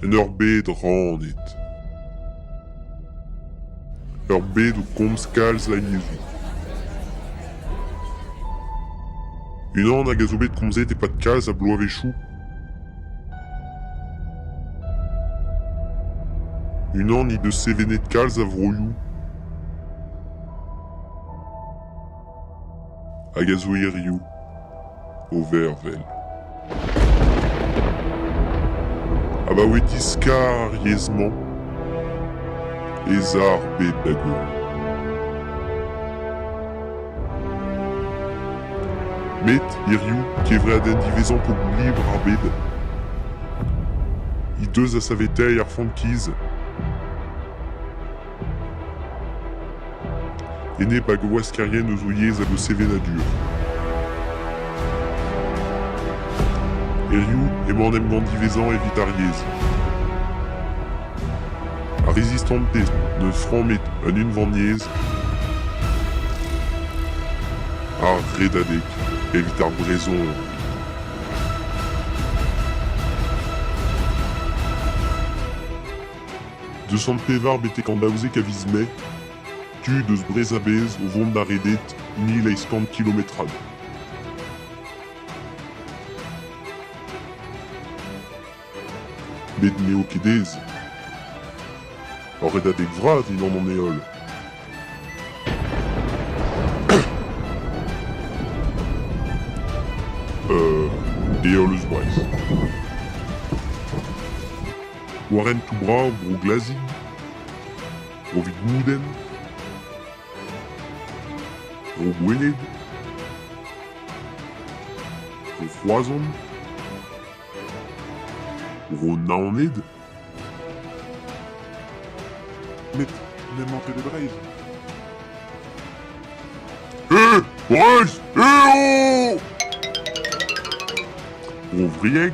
En ur bed rannet. Ur bed o komz kalz lamezi. Unan hag a zo bet komzet e-pad kalz a bloavezhioù. Unan he deus sevenet kalz a vroioù. hag a zo hiriv o vervel. Abaoe diskar ar yezh-mañ ez a ar bed da goll. Met hiriv, kevredenn diwezhañ pobl-libr ar bed, he deus da saveteiñ ar frankiz. Enep hag gwaskerienn eus o yezh hag o sevenadur. Hiziv emañ an emgann diwezhañ evit ar yezh. Ar rezistanted n'eus frammet un unvaniezh ar redadeg evit ar brezhoneg. Deux cent pevar betek an daouzek a viz Mae, tud eus Brest a-bezh o vont da reded mil eizh kant kilometrad. Met n'eo ket aes. Ur redadeg vras dindan an heol. Euh, heol eus Brest. war hentoù brav Bro Glazig, Bro Vigoudenn, Bro Goueled, Bro Roazhon, Bro Naoned. Met n'emañ ket e Breizh. Eh, Breizh, eh oh! Bro Vrieg,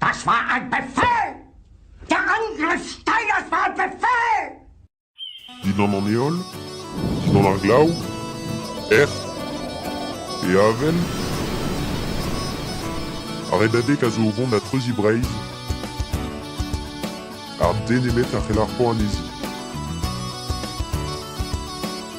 Das war ein Befehl! Der Angriff steigert war ein Befehl! Dindan an heol, dindan ar glav, ec'h, e avel, ar redadeg a zo o vont da treuziñ Breizh, ha den nemet a c'hell ar c'hoan anezhi.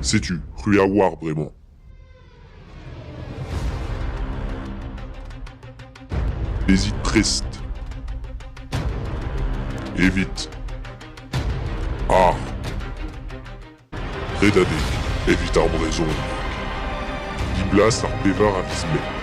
Setu, c'hwi a oar bremañ. Bezit prest. Evit. Ar. Redadeg evit ar brezhon. Diblas ar pevar a viz Mae.